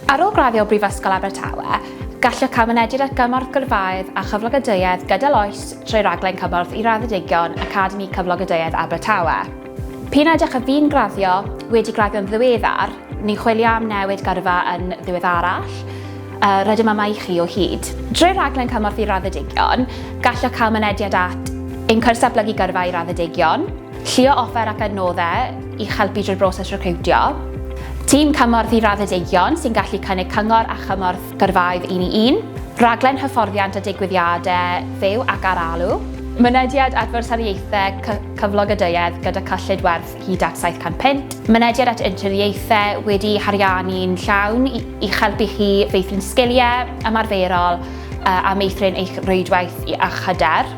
Ar ôl graddio o Brifysgol Abertawe, gallwch cael mynediad at gymorth gyrfaoedd a chyflogadwyedd gydol oes trwy Raglen Cymorth i Raddedigion Academi Cyflogadwyedd Abertawe. P'un a ydych a fu'n graddio, wedi graddio'n ddiweddar, neu chwilio am newid gyrfa yn ddiweddarach, rydym yma i chi o hyd. Drwy Raglen Cymorth i Raddedigion, gallwch cael mynediad at ein cwrs Datblygu Gyrfa i Raddedigion, Llio offer ac adnoddau i'ch helpu drwy'r broses recriwtio. Tîm cymorth i raddedigion sy'n gallu cynnig cyngor a chymorth gyrfaoedd un i un. Rhaglen hyfforddiant a digwyddiadau fyw ac ar alw. Mynediad at Fwrsariaethau Cyflog a Duedd gyda cyllid werth hyd at £700. Mynediad at Interniaethau wedi'u hariannu'n llawn i'ch helpu chi feithrin sgiliau ymarferol a meithrin eich rwydwaith a'ch hyder.